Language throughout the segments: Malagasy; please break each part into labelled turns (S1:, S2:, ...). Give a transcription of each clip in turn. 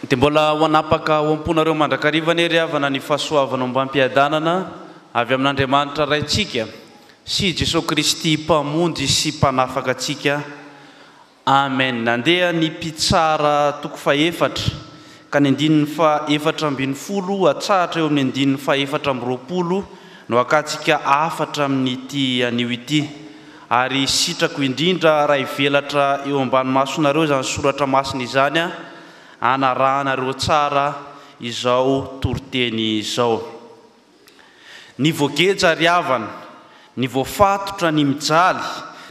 S1: Dia mbola ho hanapaka ao am-ponareo mandrakariva anie ry havana ny fahasoavana ombam-piadanana avy amin'Andriamanitra Raintsika sy Jesoa Kristy Mpamonjy sy Mpanafaka antsika. Amen Nandeha ny mpitsara toko fahefatra ka ny andininy fahefatra ambin'ny folo hatsahatra eo amin'ny andininy fahefatra amby roapolo no akatsika hafatra amin'ity anio ity ary sitrako indrindra raha hivelatra eo ambany masonareo izany soratra masina izany hanarahanareo tsara izao toriteny izao. Ny voageja ary havana, ny voafatotra, ny mijaly,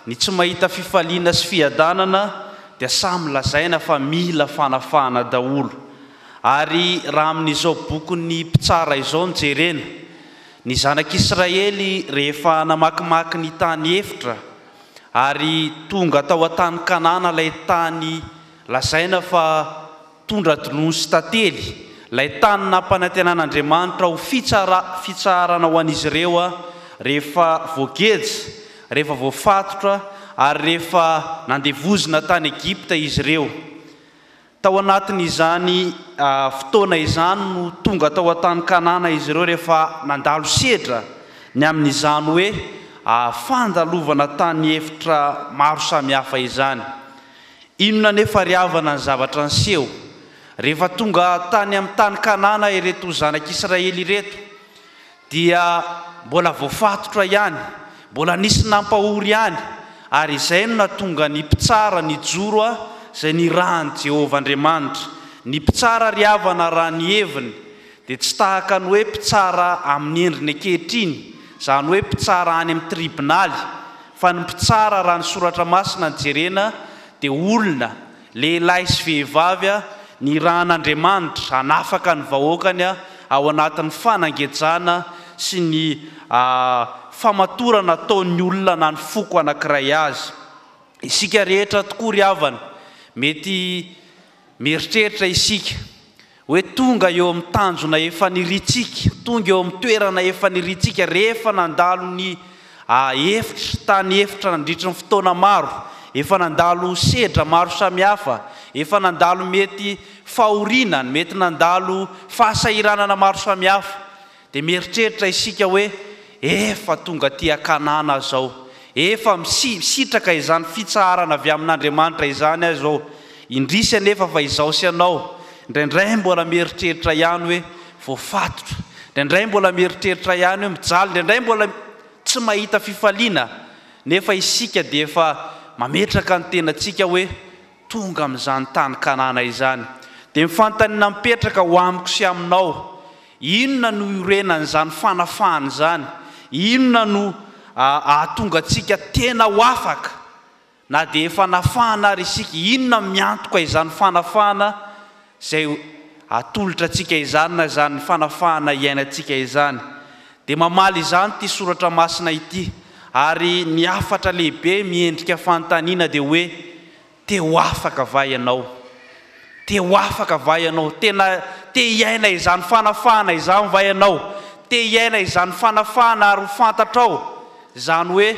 S1: ny tsy mahita fifaliana sy fiadanana dia samy lazaina fa mila fanafahana daholo. Ary raha amin'izao bokin'ny mpitsara izao no jerena, ny zanak'Israely rehefa namakimaky ny tany efitra ary tonga tao an-tany Kanana ilay tany lazaina fa Tondra Donosy Tantely, ilay tany nampanantenan'Andriamanitra ho fitsara, fitsaharana ho an'izy ireo rehefa voageja, rehefa voafatotra ary rehefa nandevozina tany Egypta izy ireo. Tao anatin'izany fotoana izany no tonga tao an-tany Kanana izy ireo rehefa nandalo sedra ny amin'izany hoe fandalovana tany efitra maro samihafa izany. Inona anefa ry havana ny zavatra niseho rehefa tonga tany amin'ny tany Kanana ireto zanak'Israely ireto? Dia mbola voafatotra ihany, mbola nisy nampahory ihany, ary izay no nahatonga ny mpitsara nijoro izay nirahan'i Jehovah Andriamanitra. Ny mpitsara ry havana raha ny heviny dia tsy tahaka ny hoe mpitsara amin'ny endriny ankehitriny, izany hoe mpitsara any amin'ny tribonaly, Fa ny mpitsara raha ny soratra masina no jerena dia olona, lehilahy sy vehivavy, nirahan'Andriamanitra hanafaka ny vahoakany ao anatin'ny fanangejana sy ny famatorana ataon'ny olona na ny foko anankiray azy. Isika rehetra tokoa ry havana, mety mieritreritra isika Hoe tonga eo amin'ny tanjona efa niriantsika, tonga eo amin'ny toerana efa niriantsika rehefa nandalo ny efitra, tany efitra nandritry ny fotoana maro, efa nandalo sedra maro samihafa, efa nandalo mety fahoriana, mety nandalo fahasahiranana maro samihafa. Dia mieritreritra isika hoe, Efa tonga aty an-kanana aho izao. Efa misitraka izany fitsaharana avy amin'Andriamanitra izany aho izao. Indrisy anefa fa izaho sy ianao, indraindray mbola mieritreritra ihany hoe voafatotra. Indraindray mbola mieritreritra ihany hoe mijaly. Indraindray mbola tsy mahita fifaliana. Nefa isika dia efa mametraka ny tenantsika hoe, tonga amin'izany tany Kanana izany, dia ny fanontaniana mipetraka ho amiko sy aminao, inona no iorenan'izany fanafahana izany? Inona no hahatonga antsika tena ho afaka na dia efa nafahana ary isika? Inona miantoka izany fanafahana? izay atolotra antsika izany na izany fanafahana iainantsika izany, dia mamaly izany ity soratra masina ity, ary ny hafatra lehibe miendrika fanontaniana dia hoe, Te ho afaka va ianao? Te ho afaka va ianao? Tena te hiaina izany fanafahana izany va ianao? Te hiaina izany fanafahana ary ho fantatrao izany hoe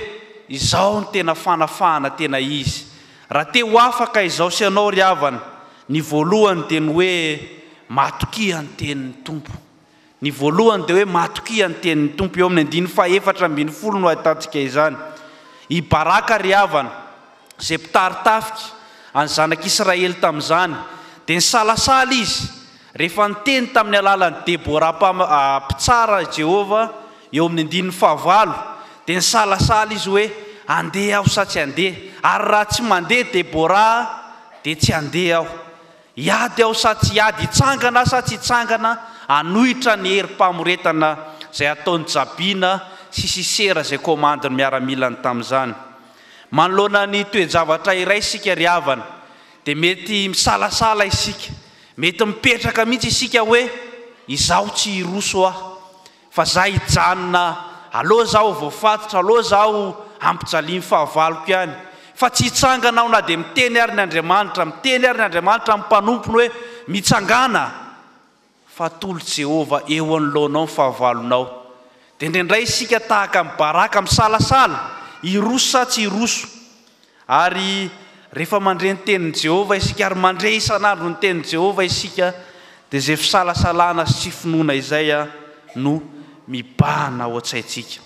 S1: izao no tena fanafahana tena izy? Raha te ho afaka izao sy ianao ry havana, Ny voalohany dia ny hoe matokia ny tenin'ny Tompo. Ny voalohany dia hoe matokia ny tenin'ny Tompo. Eo amin'ny andininy fahefatra ambin'ny folo no ahitantsika izany. I Baraka ry havana, izay mpitari tafika an'ny zanak'Israely tamin'izany, dia nisalasala izy rehefa niteny tamin'ny alalan'i Debora mpitsara i Jehovah, eo amin'ny andininy fahavalo, dia nisalasala izy hoe, Handeha aho sa tsy handeha? Ary raha tsy mandeha Debora, dia tsy handeha aho. Hiady aho sa tsy hiady, hitsangana sa tsy hitsangana hanohitra ny herim-pamoretana izay ataon'i Jabiana sy Sisera izay komandin'ny miaramilany tamin'izany. Manoloana ny toe-javatra iray isika ry havana dia mety misalasala isika, mety mipetraka mihitsy isika hoe izaho tsy hiroso aho. Fa za hijanona alou zaho voafatotra alou zaho ampijaliany fahavaloko ihany fa tsy hitsangana aho na dia miteny ary ny Andriamanitra miteny ary ny Andriamanitra amin'ny mpanompony hoe mitsangàna fa tolo Jehovah eo anoloanao ny fahavalonao dia indraindray isika tahaka an'i Baraka misalasala hiroso sa tsy hiroso Ary rehefa mandre ny tenin'i Jehovah isika ary mandre isan'andro ny tenin'i Jehovah isika, dia izay fisalasalana sy tsy finoana izay no mibahana ao an-tsaintsika.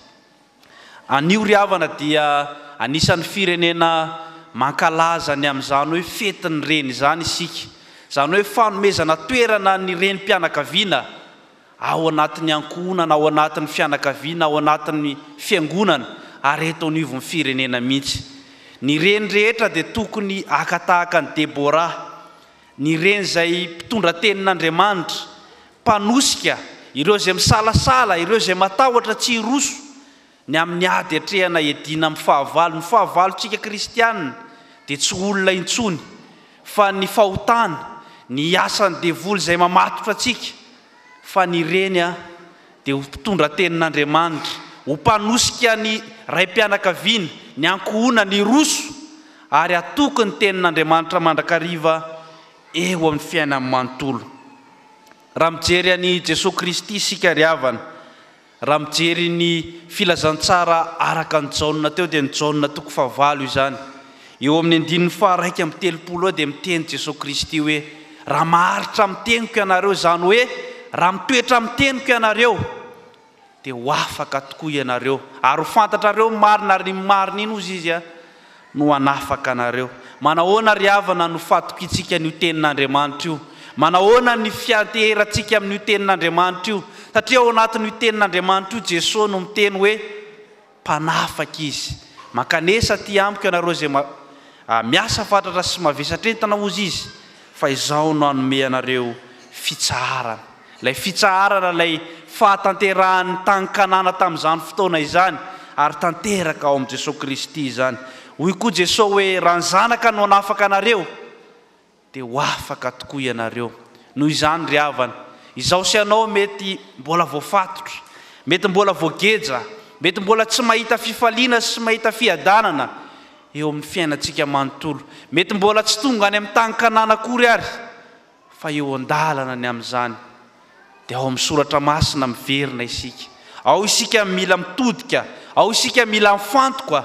S1: Anio ry havana dia anisan'ny firenena mankalaza ny amin'izany hoe Fetin'ny Reny izany isika, izany hoe fanomezana toerana ny renim-pianakaviana, ao anatin'ny ankohonana, ao anatin'ny fianakaviana, ao anatin'ny fiangonana ary eto anivon'ny firenena mihitsy. Ny reny rehetra dia tokony haka tahaka an'i Debora, ny reny izay mpitondra tenin'Andriamanitra, mpanosika ireo izay misalasala, ireo izay matahotra tsy hiroso, Ny amin'ny ady atrehana hiadiana amin'ny fahavalo, ny fahavalontsika kristiana dia tsy olona intsony fa ny fahotana, ny asan'ny devoly izay mamatotra antsika, fa ny reny dia ho mpitondra tenin'Andriamanitra, ho mpanosika ny raim-pianakaviana, ny ankohonana hiroso ary hatoky ny tenin'Andriamanitra mandrakariva eo amin'ny fiainany manontolo. Raha mijery an'i Jesoa Kristy isika ry havana, Raha mijery ny filazantsara araka an'i Jaona teo dia ny Jaona toko fahavalo izany. Eo amin'ny andininy faharaika amby telopolo eo dia miteny Jesoa Kristy hoe, Raha maharitra amin'ny teniko ianareo, izany hoe raha mitoetra amin'ny teniko ianareo, dia ho afaka tokoa ianareo, ary ho fantatrareo ny marina, ary ny marina iny, hozy Izy, no hanafaka anareo. Manahoana ry havana no fatokiantsika an'io Tenin'Andriamanitra io? Manahoana ny fianteherantsika amin'io Tenin'Andriamanitra io? Satria ao anatin'io Tenin'Andriamanitra io Jesoa no miteny hoe Mpanafaka Izy. Mankanesa aty amiko ianareo izay miasa fatratra sy mavesatra entana hozy Izy, fa Izaho no hanome anareo fitsaharana. Ilay fitsaharana ilay fahatanterahan'ny tany Kanana tamin'izany fotoana izany, ary tanteraka ao amin'i Jesoa Kristy izany. Hoy koa Jesoa hoe, Raha ny Zanaka no hanafaka anareo, dia ho afaka tokoa ianareo. Noho izany ry havana, izaho sy ianao mety mbola voafatotra, mety mbola voageja, mety mbola tsy mahita fifaliana sy tsy mahita fiadanana eo amin'ny fiainantsika manontolo, mety mbola tsy tonga any amin'ny tany Kanana akory ary, fa eo an-dalana ny amin'izany dia ao amin'ny soratra masina miverina isika, ao isika mila mitodika, ao isika mila mifantoka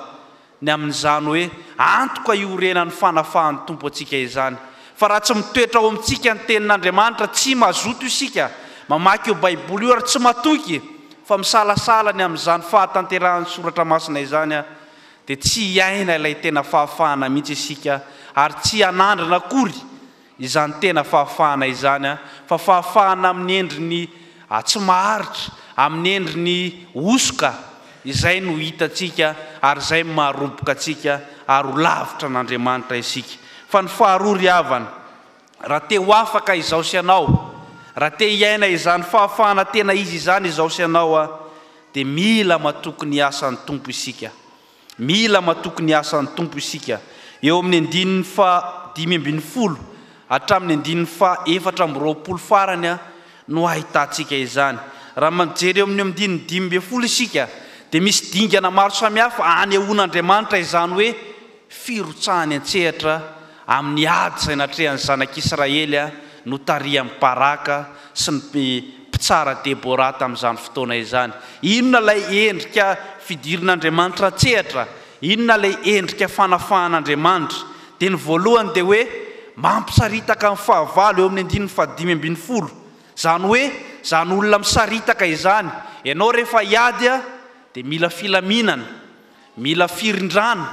S1: ny amin'izany hoe antoka iorenan'ny fanafahan'ny Tompo antsika izany, fa raha tsy mitoetra ao amintsika ny tenin'Andriamanitra tsy mazoto isika mamaky io baiboly io ary tsy matoky fa misalasala ny amin'izany fahatanterahan'ny soratra masina izany dia tsy hiaina ilay tena fahafahana mihitsy isika ary tsy hanandrana akory Izany tena fahafahana izany fa fahafahana amin'ny endriny tsy maharitra, amin'ny endriny hosoka, izay no hitantsika ary izay no maharoboka antsika ary ho lavitra an'Andriamanitra isika. Fa ny faharoa ry havana, raha te ho afaka izao sy ianao, raha te hiaina izany fahafahana tena izy izany izao sy ianao dia mila matoky ny asan'ny Tompo isika. Mila matoky ny asan'ny Tompo isika. Eo amin'ny andininy faha dimy ambin'ny folo hatramin'ny andininy faha efatra amby roapolo farany no ahitantsika izany. Raha mijery eo amin'ny andininy dimy ambin'ny folo isika dia misy dingana maro samihafa anehoan'Andriamanitra izany hoe firotsahany an-tsehatra Amin'ny ady izay natrehan'ny Zanak'Israely notarihan'i Baraka sy ny mpitsara Deborah tamin'izany fotoana izany, inona ilay endrika fidirin'Andriamanitra an-tsehatra? Inona ilay endrika fanafahan'Andriamanitra? Teny voalohany dia hoe, Mampisaritaka ny fahavalo, eo amin'ny andininy fahadimy ambin'ny folo. Izany hoe, izany olona misaritaka izany. Ianao rehefa hiady dia mila filaminana. Mila firindrana,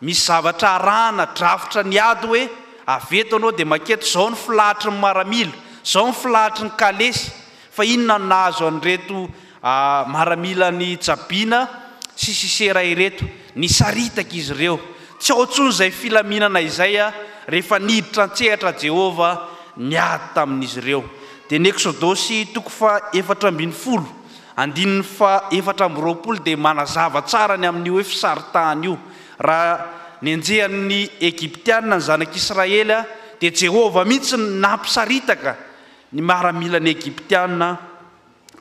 S1: misy zavatra arahana, drafitra ny ady hoe avy eto anao dia manketo, izao ny filahatry ny maramila, izao ny filahatry ny kalesy, fa inona no nahazo an'ireto maramila an'i Jabiana sy Sisera ireto? Nisaritaka izy ireo. Tsy ao intsony izay filaminana izay rehefa niditra an-tsehatra Jehovah niady tamin'izy ireo. Dia ny Eksodosy toko faha efatra ambin'ny folo Andininy faha efatra amby roapolo dia manazava tsara ny amin'io hoe fisaritahana io. Raha nenjehan'ny Egyptiana ny zanak'Israely dia Jehovah mihitsy no nampisaritaka ny miaramilan'ny Egyptiana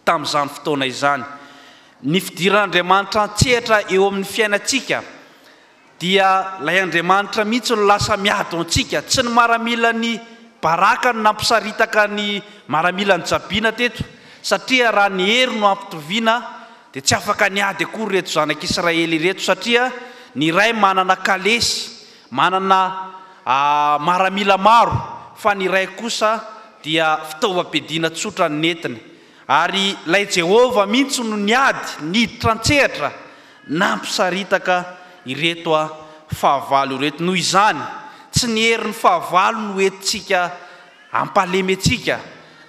S1: tamin'izany fotoana izany. Ny fidiran'Andriamanitra an-tsehatra eo amin'ny fiainantsika Dia ilay Andriamanitra mihitsy no lasa miady ho antsika, tsy ny maramilan'i Baraka no nampisaritaka ny maramilan'i Jabina teto, satria raha ny hery no ampitoviana dia tsy afaka niady akory ireto zanak'Israely ireto, satria ny iray manana kalesy, manana maramila maro, fa ny iray kosa dia fitaovam-piadiana tsotra no nentiny. Ary ilay Jehovah mihitsy no niady, niditra an-tsehatra, Nampisaritaka ireto fahavalo ireto. Noho izany, tsy ny herin'ny fahavalo no entintsika hampahalementsika,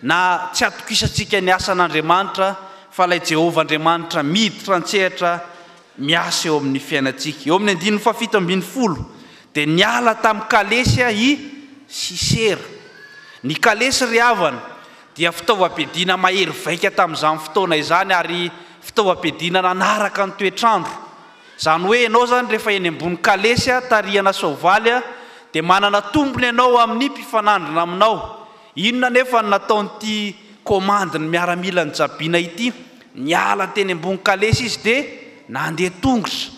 S1: na tsy hatokisantsika ny asan'Andriamanitra, fa ilay Jehovah Andriamanitra miditra an-tsehatra miasa eo amin'ny fiainantsika. Eo amin'ny andininy fahafito ambin'ny folo, dia niala tamin'ny kalesy i Sisera. Ny kalesy ry havana, dia fitaovam-piadiana mahery vaika tamin'izany fotoana izany ary fitaovam-piadiana nanaraka ny toetr'andro. Izany hoe ianao izany rehefa eny ambony kalesy tarihana soavaly dia manana tombony ianao amin'ny mpifanandrina aminao. Inona anefa no nataon'ity komandin'ny miaramila nijabiana ity? Niala teny ambony kalesy izy dia nandeha tongotra.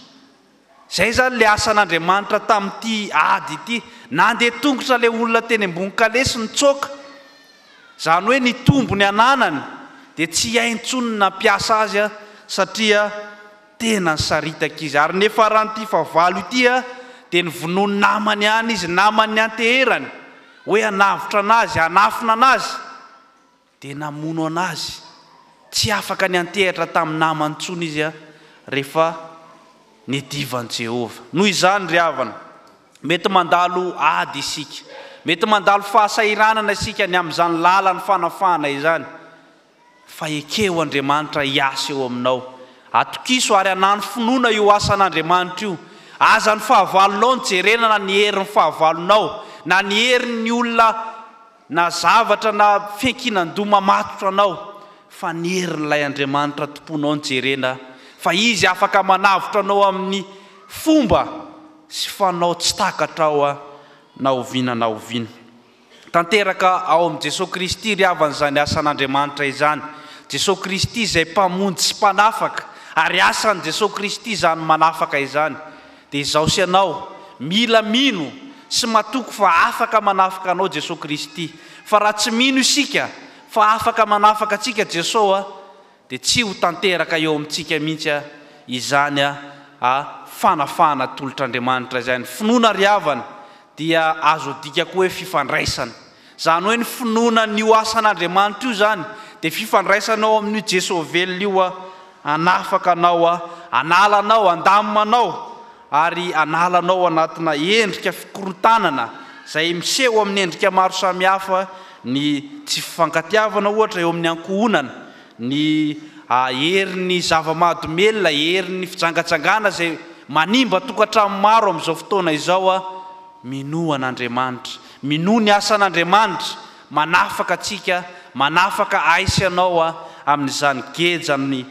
S1: Izay izany ilay asan'Andriamanitra tamin'ity ady ity. Nandeha tongotra ilay olona teny ambony kalesy nitsoaka. Izany hoe nitombo ny ananany, dia tsy hay intsony ny nampiasa azy satria tena nisaritaka izy. Ary ny faran'ity fahavalo ity dia novonoin'ny namany ihany izy, namany nianteherany hoe hanavotra an'azy, hanafina an'azy. Dia namono an'azy. Tsy afaka niantehatra tamin'ny namany intsony izy rehefa niadivan'i Jehovah. Noho izany ry havana, mety mandalo ady isika. Mety mandalo fahasahiranana isika ny amin'izany lalan'ny fanafahana izany. Fa ekeho Andriamanitra hiasa eo aminao. Atokiso ary anano finoana io asan'Andriamanitra io. Aza ny fahavalonao no jerena na ny herin'ny fahavalonao, na ny herin'ny olona. Na zavatra na fiankinan-doha mamatotra anao fa ny herin'ilay Andriamanitra tomponao no jerena fa Izy afaka manavotra anao amin'ny fomba sy fanao tsy takatrao na oviana na oviana. Tanteraka ao amin'i Jesoa Kristy ry havana izany asan'Andriamanitra izany. Jesoa Kristy izay Mpamonjy sy Mpanafaka ary asan'i Jesoa Kristy izany manafaka izany. Dia izaho sy ianao, mila mino sy matoky fa afaka manafaka anao Jesoa Kristy. Fa raha tsy mino isika fa afaka manafaka antsika Jesoa, dia tsy ho tanteraka eo amintsika mihitsy izany a fanafahana atolotr'Andriamanitra izay. Ny finoana ry havana dia azo adika koa hoe fifandraisana. Izany hoe ny finoana an'io asan'Andriamanitra io izany dia fifandraisanao amin'io Jesoa velona io hanafaka anao, hanala anao, handamina anao ary hanala anao anatina endrika fikorontanana izay miseho amin'ny endrika maro samihafa, ny tsy fifankatiavana ohatra eo amin'ny ankohonana, ny herin'ny zava-mahadomelina, herin'ny fijangajangana izay manimba tokantrano maro amin'izao fotoana izao. Minoa an'Andriamanitra, minoa ny asan'Andriamanitra, manafaka antsika, manafaka ahy sy anao amin'izany gejany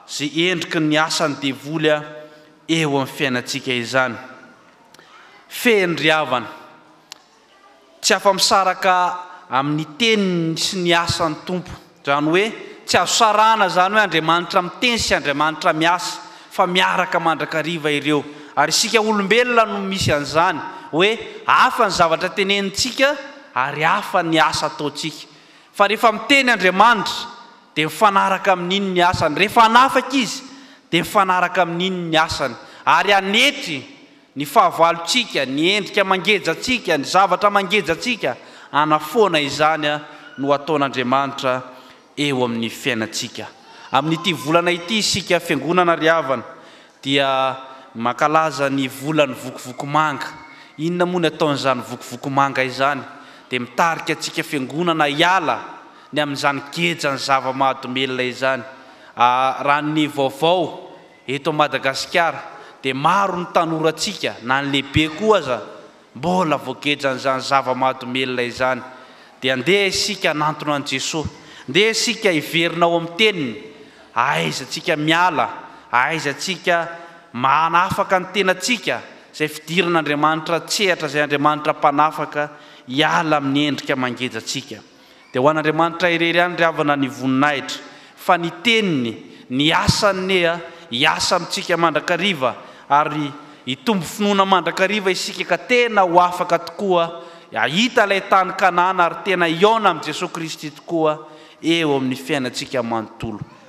S1: sy endriky ny asan'ny devoly eo amin'ny fiainantsika izany. Fehiny ry havana. tsy afa-misaraka amin'ny teniny sy ny asan'ny Tompo. Izany hoe, tsy azo sarahana izany hoe Andriamanitra miteny sy Andriamanitra miasa, fa miaraka mandrakariva ireo. Ary isika olombelona no misy an'izany, hoe hafa ny zavatra tenenintsika ary hafa ny asa ataontsika. Fa rehefa miteny Andriamanitra, dia mifanaraka amin'iny ny asany. Rehefa hanafaka Izy, dia mifanaraka amin'iny ny asany. Ary hanetry ny fahavalontsika, ny endrika mangejantsika, ny zavatra mangejantsika, hanafoana izany no ataon'Andriamanitra eo amin'ny fiainantsika. Amin'ity volana ity isika Fiangonana ry havana dia mankalaza ny volan'ny vokovoko manga. Inona moa ny ataon'izany vokovoko manga izany? Dia mitarika antsika Fiangonana hiala ny amin'izany gejan'ny zava-mahadomelina izany. Raha ny vaovao. Eto Madagasikara dia maro ny tanorantsika na ny lehibe koa aza mbola voagejan'izany zava-mahadomelina izany. Dia andeha isika hanantona an'i Jesoa. Ndeha isika hiverina ao amin'ny teniny. Ahaiza antsika miala, ahaiza antsika manafaka ny tenantsika izay fidiran'Andriamanitra an-tsehatra izay Andriamanitra mpanafaka hiala amin'ny endrika mangeja antsika. Dia ho an'Andriamanitra irery ihany ry havana ny voninahitra, fa ny teniny, ny asany nia hiasa amintsika mandrakariva, ary hitombo finoana mandrakariva isika ka tena ho afaka tokoa hahita ilay tany Kanana ary tena hihaona amin'i Jesoa Kristy tokoa eo amin'ny fiainantsika manontolo.